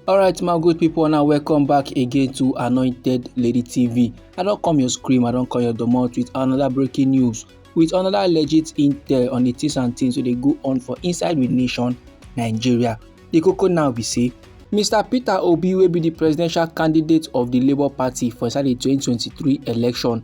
alright my good people now welcome back again to anointed lady tv i don't come your scream i don't call your domot with another breaking news with another legit intel on the things and things so they go on for inside with nation nigeria the coco now be say mr peter obi will be the presidential candidate of the labour party for inside di 2023 election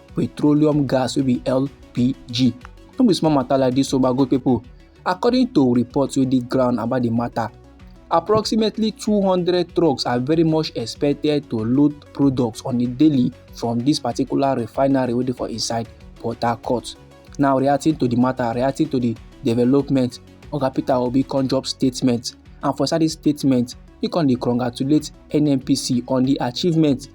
petroleum gas wey be lpg no be small matter like this o my good people according to reports wey dey ground about the matter approximately 200 trucks are very much expected to load products on a daily from this particular refinery wey dey for inside port harcourt now reacting to the matter reacting to the development oga peter obi come drop statement and for inside dis statement he come dey congratulate nnpc on the achievement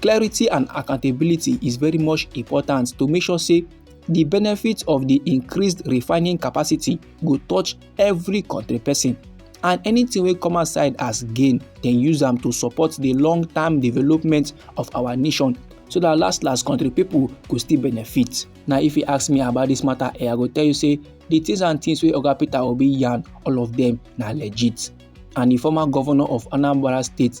clarity and accountability is very much important to make sure say the benefits of the increased refining capacity go touch every country person and anything wey come outside as gain dem use am to support the long term development of our nation so that last last country people go still benefit na if you ask me about this matter eh, i go tell you say the things and things wey oga peter obi yarn all of them na legit and the former governor of anambra state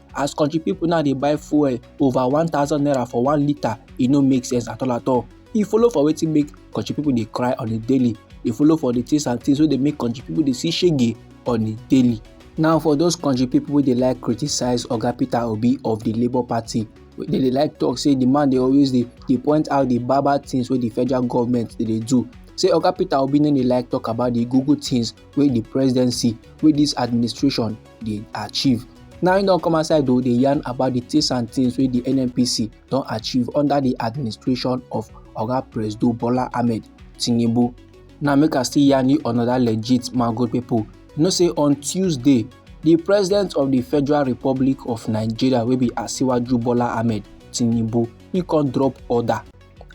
as country people now dey buy fuel over one thousand naira for one litre e no make sense at all at all e follow for wetin make country people dey cry on a daily e follow for the things and things wey dey make country people dey see shege on a daily now for those country people wey dey like criticize oga peter obi of the labour party wey dey dey like talk say the man dey always dey dey point out the bad bad things wey the federal government dey dey do say oga peter obi no dey like talk about the google things wey the presidency wey this administration dey achieve now im don come outside o dey yarn about the things and things wey the nnpc don achieve under the administration of oga presido bola ahmed tinubu now make i still yarn you another legit man good people you know say on tuesday the president of the federal republic of nigeria wey be asiwaju bola ahmed tinubu he come drop order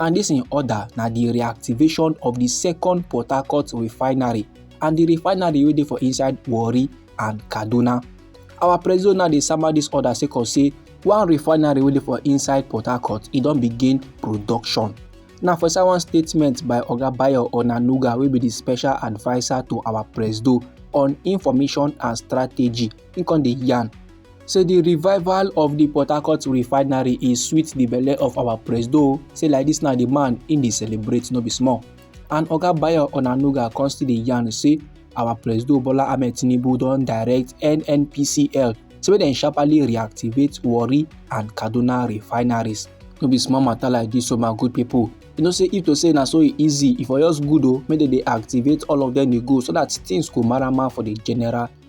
and dis im order na di reactivation of di second port harcourt refinery and di refinery wey dey for inside warri and kaduna our president now dey sama dis order sake of say one refinery wey dey for inside port harcourt e don begin production na for inside one statement by oga bayo onanuga wey be di special adviser to our presido on information and strategy im come dey yarn say the revival of the port harcourt refinery e sweet the belle of our presido say like this na the man im dey celebrate no be small and oga bayo onanuga come still dey yarn say our presido bola ahmed tinubu don direct nnpcl say make dem sharply reactivate warri and kaduna refineries no be small matter like this so my good people you know say if to say na so e easy e for just good o make dem dey activate all of them dey go so that things go marama for the general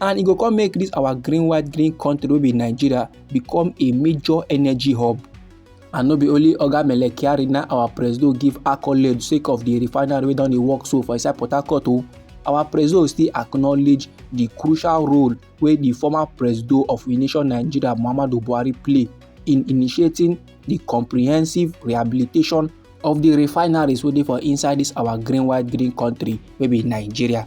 and e go come make this our green white green country wey be nigeria become a major energy hub and no be only oga mele kyari na our presido give accolade sake of the refinery wey don dey work so for inside port harcourt o oh. our presido still acknowledge the crucial role wey the former presido of the nation nigeria muhammadu buhari play in initiating the comprehensive rehabilitation of the refineries wey dey for inside this our green white green country wey be nigeria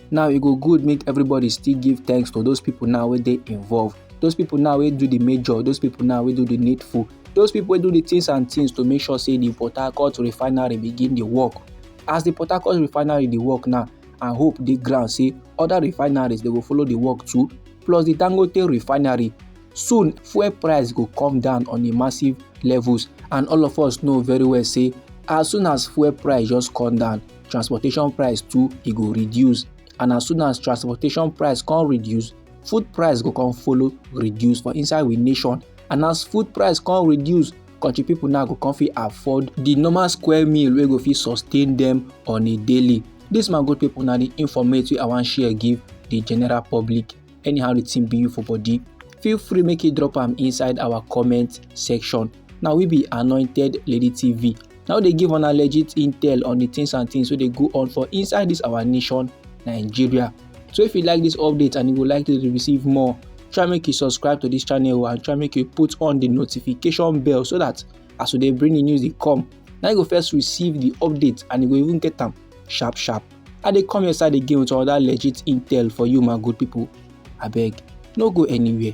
now e go good make everybody still give thanks to those people now wey dey involved those people now wey do the major those people now wey do the needful those people wey do the things and things to make sure say the port harcourt refinery begin dey work as the port harcourt refinery dey work now and hope dey ground say other refineries dey go follow dey work too plus the dangote refinery soon fuel price go come down on a massive levels and all of us know very well say as soon as fuel price just come down transportation price too e go reduce and as soon as transportation price come reduce food price go come follow reduce for inside we nation and as food price come reduce country people now go come fit afford the normal square meal wey go fit sustain them on a daily This my good people now the informate wey i wan share give the general public anyhow the thing be you for body feel free make you drop am inside our comment section na we be anointed lady tv now they give una legit intel on the things and things wey dey go on for inside this our nation nigeria so if you like this update and you would like to receive more try make you subscribe to this channel and try make you put on the notification bell so that as we dey bring the news dey come na you go first receive the update and you go even get am sharp sharp i dey come your side again with another legit intel for you my good people abeg no go anywhere.